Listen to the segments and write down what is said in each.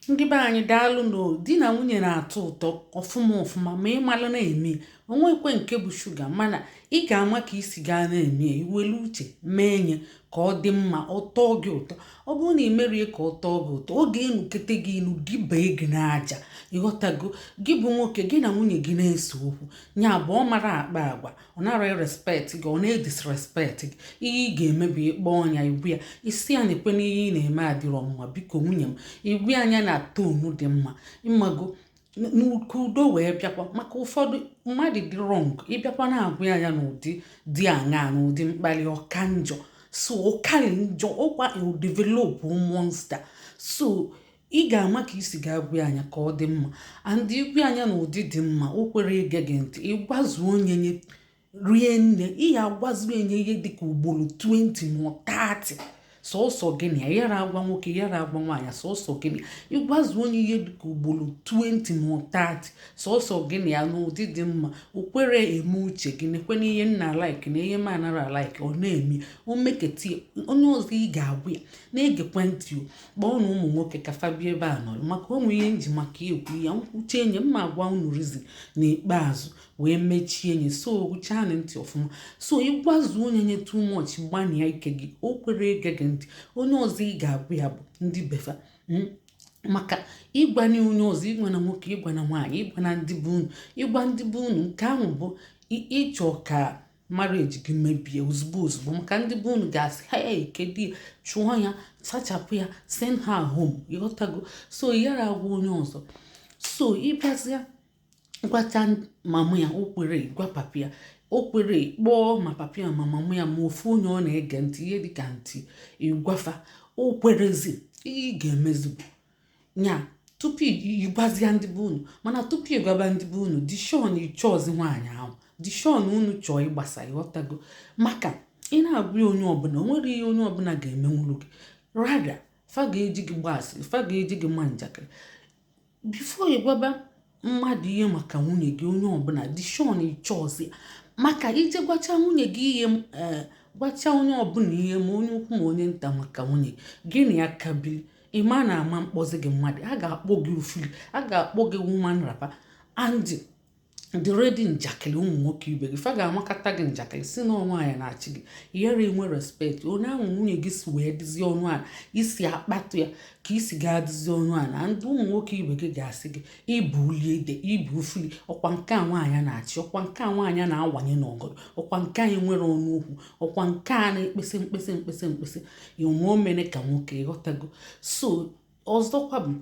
ndị be anyị daalụ nụ di na nwunye na-atọ ụtọ ọfụma ọfụma ma ị mara na-eme o nwekwe nke bụ shuga mana ị ga-ama ka ị si ga na-eme ya i welu uche mee nya ka ọ dị mma ọ tọọ gị ụtọ ọ bụrụ na ị mere ya ka ọ tọọ gị ụtọ ọ ga-enukete gị inu dibee gị n'aja ịghọtago gị bụ nwoke gị na nwunye gị na-ese okwu nya bụ ọ mara akpa agwa ọ nara respect gị ọ na-edisrespect gị ihe ị ga-eme bụ ị kpọọ nya ị gwa ya ị sị ya nekwe n'ihe ị na-eme adịrọ mma biko nwunye m ị gwa ya nya na tone dị mma ịmago ka udo wee bịakwa maka ụfọdụ mmadụ dị wrong ị bịakwa na-agwa ya nya n'ụdị dị aṅaa n'ụdị mkpali ọ ka njọ so ọ karị njọ ọkwa develop monster so ị ga-ama ka ị si ga-agwa ya nya ka ọ dị mma and ị gwa ya nya na ụdị dị mma o kwere ige gị ntị ị gwazuo nya nya rie nne ị ya agwazuo nya ihe dịka ugboro 20 ma 30 sọsọ gị na ya yara agwa nwoke yara agwa nwaanyị sọsọ gị na ya ị gwazuo nya ihe dịka ugboro 20 ma 30 sọsọ gị na ya n'ụdị dị mma o kwere eme uche gị nekwe na ihe m na-alike na ihe m anara alike ọ na-eme o meketa ya onye ọzọ ị ga-agwa ya na-egekwe ntị o kpọọnụ ụmụ nwoke ka fa bịa ebe a nọrọ maka o nwe ihe m ji maka ekwu ya m kwuchaa nya m ma agwa unu reason n'ikpeazụ wee mechie nya so gechaanụ ntị ọfụma so ị gwazuo nya nya too much gbanịa ike gị o kwere ege gị ntị onye ọzọ ị ga-agwa ya bụ ndị be fa hmm? maka ị gwana onye ọzọ ị gwana nwoke ị gwana nwaanyị ị gwana ndị be unu ị gwa ndị be unu nke ahụ bụ ị chọ ka marriage gị mebie ozugbo ozugbo maka ndị be unu ga-asị haa ya ị ka edi ya chụọ ya sachapụ ya send her home ịghọtago so yara agwa onye ọzọ so ị bịazịa gwacha mama ya o kwere gwa papa ya o kwere kpọọ ma papa ya ma mama ya ma ofu onye ọ na-ege ntị ihe dịka aunty ị gwa fa o kwerezi ị ga-emezigbo nya tupu ị gwazịa ndị be unu mana tupu ị gwaba ndị be unu dị sure na ị chọọzi nwaanyị ahụ dị sure na unu chọọ ịgbasa ịghọtago maka ị na-agwa ya onye ọbụla o nwere ihe onye ọbụla ga-emenwuru gị rather fa ga-eji gị gba asịrị fa ga-eji gị maa njakịrị before ị gwaba mmadụ ihe maka nwunye gị onye ọbụla dị sure na ị chọọzi maka i jee gwacha nwunye gị ihe eh, gwacha onye ọbụla ihe ma onye ukwu ma onye nta maka nwunye gị na ya ka bili ị ma na a ma-akpọzi gị mmadụ a ga-akpọ gị ofili a ga-akpọ gị woman wrapper and dị ready njakịrị ụmụ nwoke ibe gị fa ga-amakata gị njakịrị sị na nwaanyị na-achị gị yere enwe respect onye ahụ nwunye gị si wee dịzie ọnụ ala isi akpatụ ya ka ị si ga-adịzi ọnụ ala ndị ụmụ nwoke ibe gị ga-asị gị ị bụ ulie ide ị bụ ufuli ọkwa nke a nwaanyị na-achị ọkwa nke a nwaanyị na-awanye n'ọgọdọ ọkwa nke a nwere ọnụ okwu ọkwa nke a na-ekpesa mkpesa mkpesa mkpesa onwe omene ka nwoke ịghọtago so ọzọkwa bụ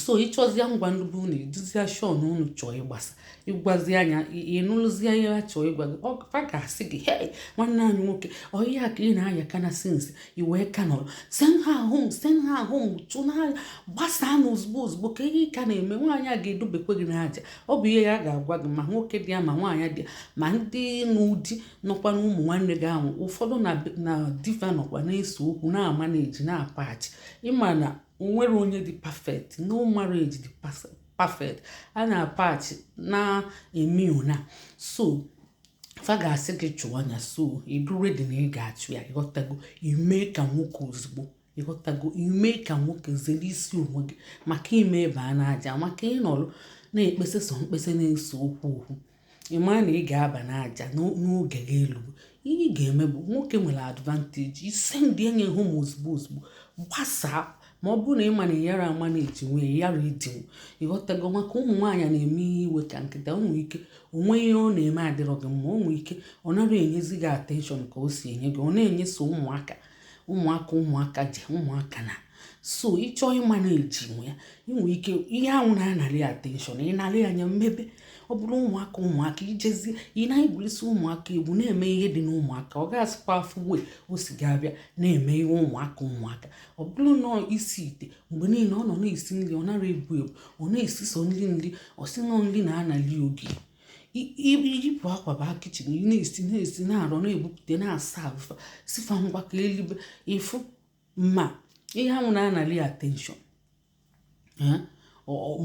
so ị chọzia ịgwa ndị be unu ị dịzia sure na unu chọọ ịgbasa ị gwazia nya ị nụlụzi ihe ha chọọ ịgwa gị fa ga-asị gị he nwanne anyị nwoke ọ ihe a ka ị na-aya ka na since i wee ka nọrọ send her home send her home unu na nya gbasaa na ozugbo ozugbo ka ihe ka na-eme nwaanyị a ga-edubekwe gị n'aja ọ bụ ihe ya ga-agwa gị ma nwoke dị ya ma nwaanyị dị ya ma ndị nụ di nọkwa na ụmụ nwanne gị ahụ ụfọdụ na di fa nọkwa na-ese okwu na-amanage na-apatch ị ma na onwerọ onye dị perfect no marriage dị perfect a na-apatch na-eme ya na so fa ga-asị gị chụọ nya so ị dị ready na ị ga-achụ ya ịghọtago i mee ka nwoke ozugbo ịghọtago i mee ka nwoke zere isi onwe gị maka ime baa n'aja maka ịnọrọ na-ekpesa sọ mkpesa na-ese okwu okwu ị maa na ị ga-aba n'aja n'oge gị elube ihe ị ga-eme bụ nwoke nwere advantage isend nya home ozugbo ozugbo gbasaa ma ọ bụrụ na ị ma na ị yara amanagenwu ị yara edinwu ịghọtago maka ụmụ nwaanyị na-eme ihe iwe ka nkịta o nwe ike o nwe ihe ọ na-eme adịrọ gị mma o nwe ike ọ nara enyezi gị attention ka o si enye gị ọ na-enye sọ ụmụaka ụmụaka ụmụaka ji ụmụaka na so ị chọọ ịmanagenwu ya i nwe ike ihe ahụ na-anarị attention ị narị nya mebe ọ bụrụ ụmụaka ụmụaka i jezie ị na-egwurisi ụmụaka egwu na-eme ihe dị n'ụmụaka ọ ga-asịkwa afụ ebe o si ga-abịa na-eme ihe ụmụaka ụmụaka ọ bụrụ na isi ite mgbe niile ọ nọ na-esi nri ọ nara ebu ebu ọ na-esi sọ nri nri ọ sị na nri na-anali oge i yipụ akwa baa kitchen ị na-esi na-esi na-arụ na-ebupụta na-aserve fa sị fa ngwa ka e libe ị fụ ma ihe ahụ na-anali attention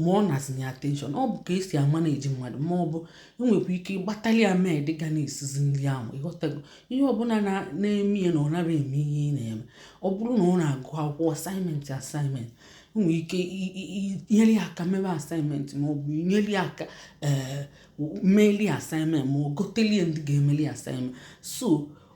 ma ọ nazinye attention ọ bụ ka e si amanage mmadụ ma ọ bụ i nwekwa ike ịgbatali ya maid ga na-esizi nri ahụ ịghọtago ihe ọbụla na-eme ya na ọ nara eme ihe ị na-eme ọ bụrụ na ọ na-agụ akwụkwọ assignment assignment nwere ike inyere ya aka mebe assignment ma ọ bụ inyere ya aka ee eh, meeli assignment ma ọ goteli ya ndị ga-emeli assignment so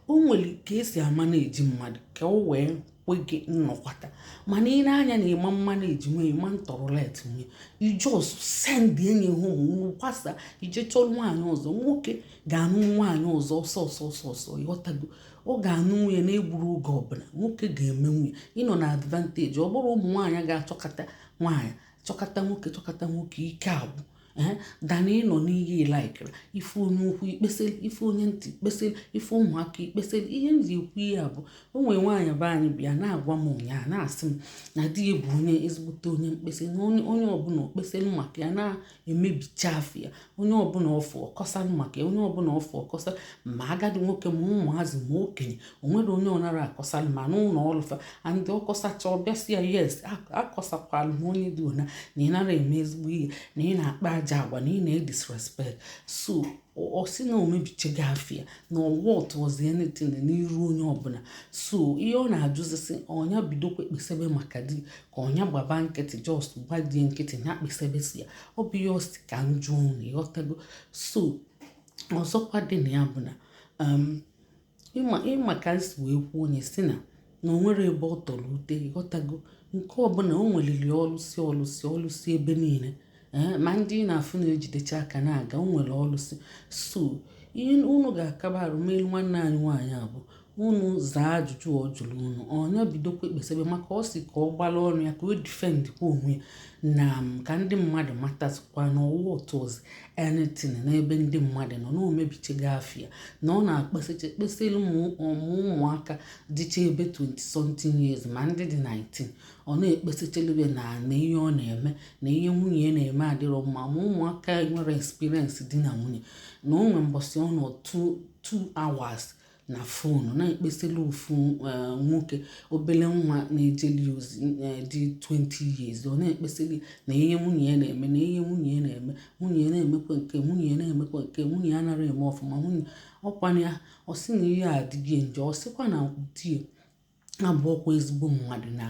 o nwere ka e si amanage mmadụ ka o wee kwe gị nnọkwata mana ị nee anya na ị ma-amanagenwu ị ma-atoleratenwu ị just send nya home unu gbasaa i jee chọrọ nwaanyị ọzọ nwoke ga-anụ nwaanyị ọzọ ọsọ ọsọ ọsọ ọsọ ịghọtago ọ ga-anụ nwunye na-egburu oge ọbụla nwoke ga-eme nwunye ịnọ na advantage ọ bụrụ ụmụ nwaanyị ga-achọkata nwaanyị chọkata nwoke chọkata nwoke ike agwụ ee than ịnọ n'ihe ilaikere ị fụ onye ukwu i kpeselu ị fụ onye nta i kpeselu ị fụ ụmụaka i kpeselu ihe m ji ekwu ihe a bụ o nwere nwaanyị be anyị bịa na-agwa m ụnyaa na-asị m na di ya bụ onye ezigbote onye mkpeseli na onye ọbụla o kpeselu maka ya na emebicha afịa onye ọbụla ọ fụ ọ kọsanụ maka ya onye ọbụla ọ fụ ọ kọsa ma agadi nwoke ma ụmụazị ma okenye o nwerọ onye ọ nara akọsanụ ma n'ụlọ ọlụ fa and ọ kọsachaa ọ bịa sị ya yes akọsakwalụ m onye dị ona na ị nara eme ezigbo ihe na ị na-akpa ajọ agwa na ị na-edisrespect so ọ sị na o mebichego afịa na ọ worthụrọzi anything n'iru onye ọbụla so ihe ọ na-ajụzi sị ọ nya bidokwa kpesebe maka di ka ọ nya gbaba nkịtị just gba di ya nkịtị ya kpesebe si ya ọ bụ ihe ọ sị ka m jụọ unu ịghọtago so ọzọkwa dị na ya bụ na um, ịma ịma ka anyị si wee kwuo onye si na na o nwere ebe ọ tọrọ ute ịghọtago nke ọbụla o nweliri ọlụsị ọlụsị ọlụsị ebe niile ee ma ndị ị na-afụ na-ejidecha aka na-aga o nwere ọlụsị so ihe unu ga-akaba arụ melu nwanne anyị nwaanyị a bụ unu zaa ajụjụ ọ jụrụ unu ọ nya bidokwa ekpesebe maka ọ sị ka ọ gbala ọnụ ya ka o defendkwa onwe ya na m ka ndị mmadụ matazikwa na ọ worthụrọzi anything n'ebe ndị mmadụ nọ na o mebichego afịa na ọ na-ekpesecha kpeselu ma ụmụaka dịcha ebe 20 something years ma ndị dị 19 ọ na-ekpesechelube na na ihe ọ na-eme na ihe nwunye ya na-eme adịrọ mma ma ụmụaka enwerọ experience di na nwunye na o nwere mbọsị ọ nọ 2 hours na fon na-ekpeseli ofu eh, nwoke obele nwa na-ejeli ozi eh, dị 20 years ọ na-ekpeseli na ihe nwunye ya na-eme na ihe nwunye ya na-eme nwunye ya na-emekwa nke nwunye ya na-emekwa nke nwunye ya anarọ eme ọfụma nwunye ọkwana ya ọ sị na ihe a adịgo ya njọ ọ sịkwa na di abụrọkwa ezigbo mmadụ na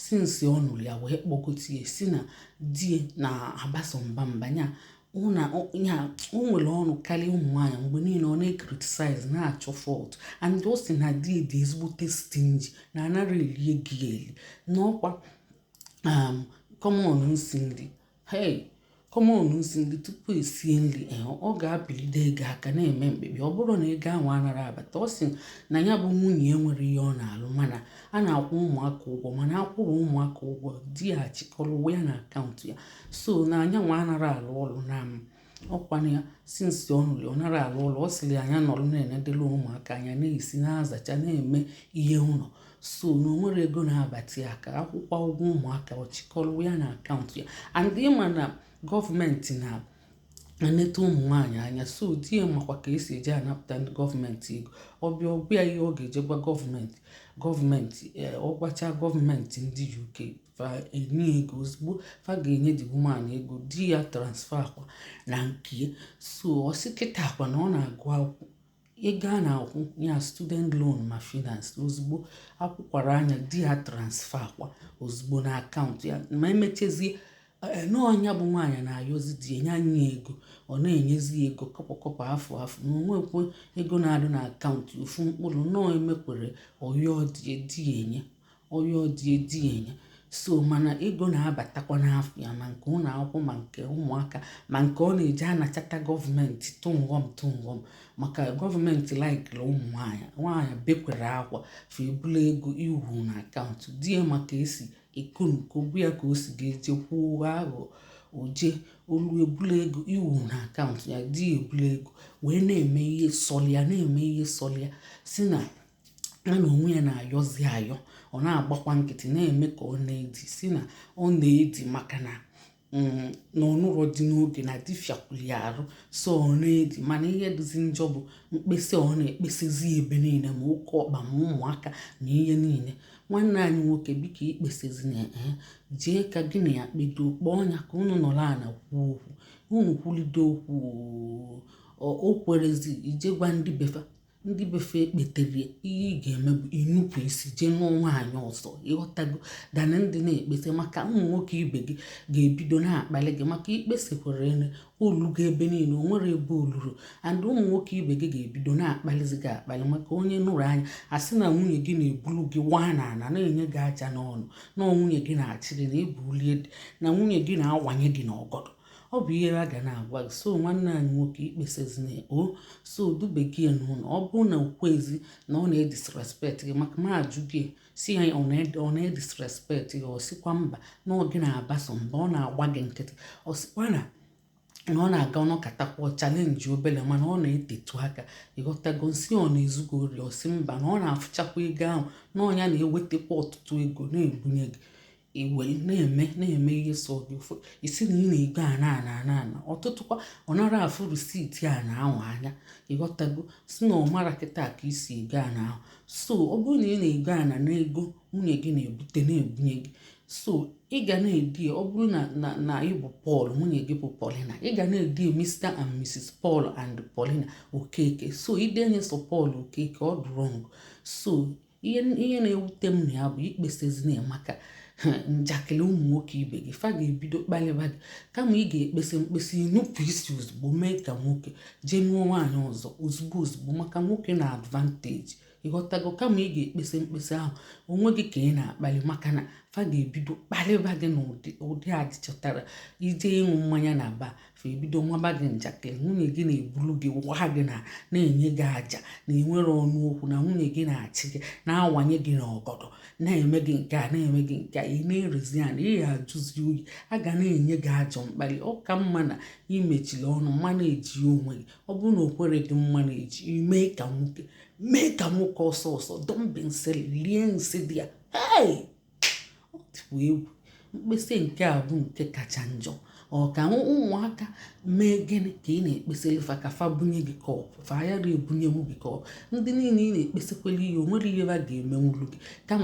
since ọ nụrụ ya wee kpọgote ya si na di na-abaso mba mba nya na o nwere ọnụ karịa ụmụ nwaanyị mgbe niile ọ na-ecriticize na-achọ fault and ọ sị na di ya dị ezigbote stingy na anara eli ego ya eli na ọkwa um, common nsi nri Hei, common nsi nri tupu esie nri eh, ọ ga-apịlide ego aka na-eme mkpebi ọ bụrọ na ego anwa anara abata ọ sị na ya bụ nwunye nwere ihe ọ na-alụ mana a na-akwụ ụmụaka ụgwọ mana akwụrụ ụmụaka ụgwọ di ya achịkọrọ ya na account ya so na nya nwa anara alụ ọlụ na ọkwa na ya since ọ nụrụ ọ nara alụ ọlụ ọ sịrị nya nọrọ na-enedela ụmụaka anya na-esi na-azacha na-eme ihe ụlọ so na o nwere ego na-abata ya aka a kwụkwa ụgwọ ụmụaka ọ chịkọrọ ya na akaụntụ ya and ị ma na gọọmenti na-eneta ụmụ nwaanyị anya so di ya makwa ka esi eje anapụta ndị gọọmenti ego ọ bịa ọ gwa ya ihe ọ ga-eje gwa gọọmenti gọọmenti eh, ọ gwacha gọọmenti ndị UK fa enye ego ozugbo fa ga-enye the woman ego di ya transferkwa na nke so ọ sị kịtaakwa na ọ na-agụ akwụkwọ ego a na-akwụ ya student loan ma finance ozugbo a kwụkwara nya di ya transferkwa ozugbo na akaụntụ ya ma e mechezie eh, na ọ nya bụ nwaanyị na-ayọzi di ya nye nya ego ọ na-enyezi ya ego kọpọ kọpọ afụ afụ na o nwekwe ego na-adị na akaụntụ ofu mkpụrụ nọọ emekwere ọ yọọ di ya enye ọ yọọ di ya di ya enye so mana ego na-abatakwa n'afa ya ma nke ụlọ akwụkwọ ma nke ụmụaka ma nke ọ na-eji anachata gọọmenti tụnghọm tụnghọm maka gọọmenti laikiri ụmụ nwaanyị nwaanyị bekwere akwa fa ebula ego wụ na akaụntụ di ya maka esi ekonuko bụ ya ka o si ga-eje kwuo aghụghọ o je o lu ebula ego wụ na akaụntụ ya di ya ebula ego wee na-eme ihe sọlụ ya na-eme ihe sọlụ ya si na ya na onwe ya na-ayọzi ayọ ọ na-agbakwa nkịtị na-eme ka ọ na-edi si na ọ na-edi maka na mm, na ọ nụrọ di n'oge na di fịakwulu ya arụ so ọ na-edi mana ihe dịzi njọ bụ mkpesa ọ na-ekpesezi ebe niile ma oke ọkpa ma ụmụaka na ihe niile nwanne anyị nwoke biko ekpesezina ee jee ka gị na ya kpedo kpọọ nya ka unu nọrọ ala kwuo okwu unu kwulide okwu o kwerezi i je gwa ndị be fa ndị be fa ekpetere ihe ị ga-eme bụ inupụ isi jee nụọ nwaanyị ọzọ ị ghọtago than ịdị na-ekpese maka ụmụ nwoke ibe gị ga-ebido na-akpali gị maka i kpesikwara ene o lugo ebe niile o nwere ebe o luru and ụmụ nwoke ibe gị ga-ebido na-akpalizi gị akpali maka onye nụrụ nya asị na nwunye gị na-ebulu gị waa n'ala na-enye gị aja n'ọnụ na nwunye gị na-achị gị na ebulie dị na nwunye gị na-awanye gị n'ọgọdọ ọ bụ ihe a ga na-agwa gị so nwanne anyị nwoke ekpesazina o so dube gị n'ụlọ ọ bụrụ na o kwuezi na ọ na-edisrespect gị maka ma a jụọ gị sị ya ọ na-edisrespect gị ọ sịkwa mba na ọ gị na-abaso mba ọ na-agba gị nkịtị ọ sịkwa na na ọ na-aga ọ nọkatakwa challenge obele mana ọ na-etetu aka ị ghọtago m sị ọ na-ezugo ori ọ sị mba na ọ na-afụchakwa ego ahụ na ọ nya na-ewetakwa ọtụtụ ego na-ebunye gị i were na-eme na-eme ihe sọ dị ụfọ isi na ị na-ego ana ana ana ana ọtụtụkwa ọ nara afụ receipt ana ahụ anya ịghọtago sị na ọ mara kịta ka i si ego ana ahụ so ọ bụrụ na ị na-ego ana na ego nwunye gị na-ebute na-ebunye gị so ị ga na-ede ọ bụrụ na na na ị bụ Paul nwunye gị bụ Paulina ị ga na-ede Mr and Mrs Paul and Paulina Okeke so idenye sọ Paul Okeke ọ dị wrong so ihe ihe na-ewute m na ya bụ ikpesezina ya maka njakịrị ụmụ nwoke ibe gị fa ga-ebido kpalịba gị kama ị ga-ekpese mkpese nupụ isi ozugbo mee ka nwoke jee nụọ nwaanyị ọzọ ozugbo ozugbo maka nwoke na advantage ịghọtago kama ị ga-ekpese mkpese ahụ onwe gị ka ị na-akpali maka na fa ga-ebido kpalịba gị na ụdị adị ị chọtara ije ịṅụ mmanya na bar fa ebido maba gị njakịrị nwunye gị na-ebulu gị waa gị na na-enye gị aja na enwere ọnụ okwu na nwunye gị na-achị gị na-awanye gị n'ọgọdọ na-eme gị nke a na-eme gị nke a ị na-erezi ya na ị ya ajụzi oyi a ga na-enye gị ajọ mkpali ọ ka mma na imechiri ọnụ manage onwe gị ọ bụrụ na o kwere gị manage i mee ka nwoke mee ka nwoke ọsọ ọsọ dọmbi nsị lie nsị dị ya ọ dịkwa egwu mkpesa nke a bụ nke kacha njọ ọ ka ụmụaka mee gịnị ka ị na-ekpesere fa ka fa bunye gị cup fa ayara ebunyenwu gị cup ndị niile ị na-ekpesakwere ihe o nwere ihe ba ga-emenwuru gị kama